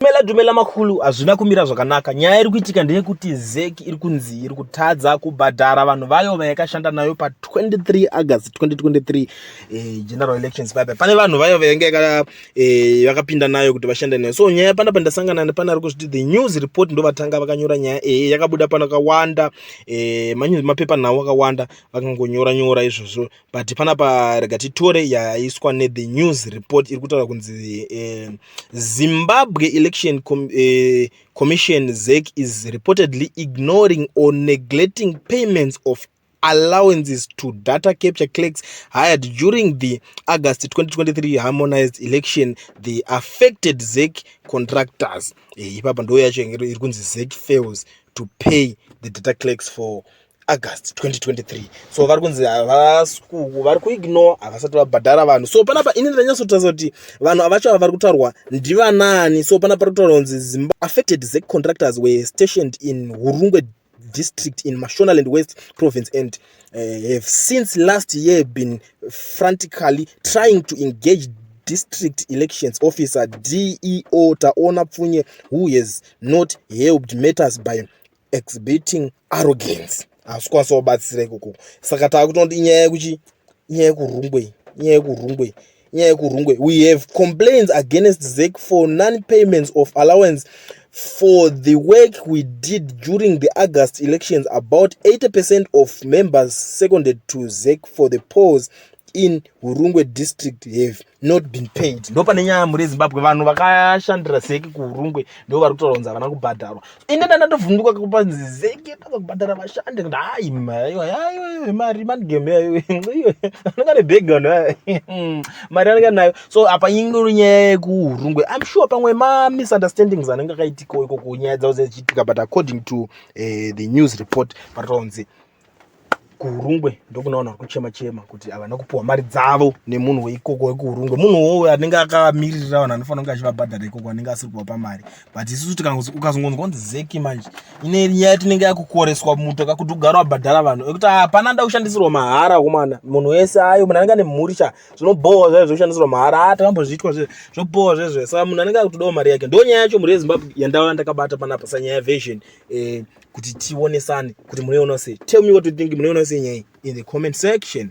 Dumela dumela makulu hazvina kumira zvakanaka nyaya iri kuitika ndeyekuti zeki iri kunzi iri kutadza kubhadhara vanhu vayo vayakashanda nayo pa 23 august 2023 eh, general elections paipa pane vanhu vayo vainge eh, vakapinda eh, nayo kuti vashande nayo so nyaya pana pandasangana nepana ari kuzviti the news report ndovatanga vakanyora nyaya iyi eh, yakabuda pano kakawanda eh, mapepa nhau akawanda vakangonyora nyora izvozvo but panapa rega titore yaiswa nethe news report iri kutaura kunzi eh, zimbabwe election Com eh, commission zec is reportedly ignoring or neglecting payments of allowances to data capture clerks hired during the august 2023 harmonized election the affected zec contractors eh, ipapa ndo yacho iri kunzi zec fails to pay the data clerks for august 2023 so vari kunzi havasikuku vari kuignore havasati vabhadhara vanhu so panapa ini ndanyatsotarisa kuti vanhu avacho ava vari kutaurwa ndivanaani so panapa ri kutaura kunzi zimba affected zec contractors were stationed in hurungwe district in mashonaland west province and uh, have since last year been frantically trying to engage district elections officer deo taona pfunye who has not helped matters by exhibiting arrogance hasi kwasa wabatsira ikoko saka taakutonoti inyaya yekuchi inyaya yekurungwe inyaya yekurungwe inyaya yekurungwe we have complaints against zek for non payments of allowance for the work we did during the august elections about 80 percent of members seconded to zek for the polls in hurungwe district have not been paid ndo pane nyaya muri zimbabwe vanhu vakashandira zeki kuhurungwe ndo vari kutaura kunzi havana kubhadharwa ine ndandatovhunduka kupa zeki tava kubhadhara vashandi kuti hayi maiwa yayo mari manigame yayo iyo anenge ane bhegi vanhu vaya mari anenge nayo so apa ingori nyaya yekuhurungwe im sure pamwe mamisunderstandings anenge akaitikawo ikoko nyaya dzavo dzichiitika but according to uh, the news report paritaura kunzi kuhurungwe ndokuna vanhu vari kuchema chema kuti havana kupiwa mari dzavo nemunhu weikoko wekuhurungwe munhu wowo anenge akamiririra vanhu anofanira kunge achivabhadhara ikoko anenge asiri kuvapa mari but isusu ukazongonzwa kunzi zeki manje ine nyaya yatinenge yakukoreswa muto kakuti ugara wabhadhara vanhu ekuti hapana nda kushandisirwa mahara komana munhu wese ayo munhu anenge ane mhuri cha zvinobhowa zvayo zvekushandisirwa mahara a ah, takambozviitwa zve zvobhowa zvezve saka munhu anenge akutodawo mari yake ndo nyaya yacho mhuri yezimbabwe yandava ndakabata panapa sanyaya yavision eh, kuti tionesane kuti munoiona sei tell me what you think munoiona sei nyaya in the comment section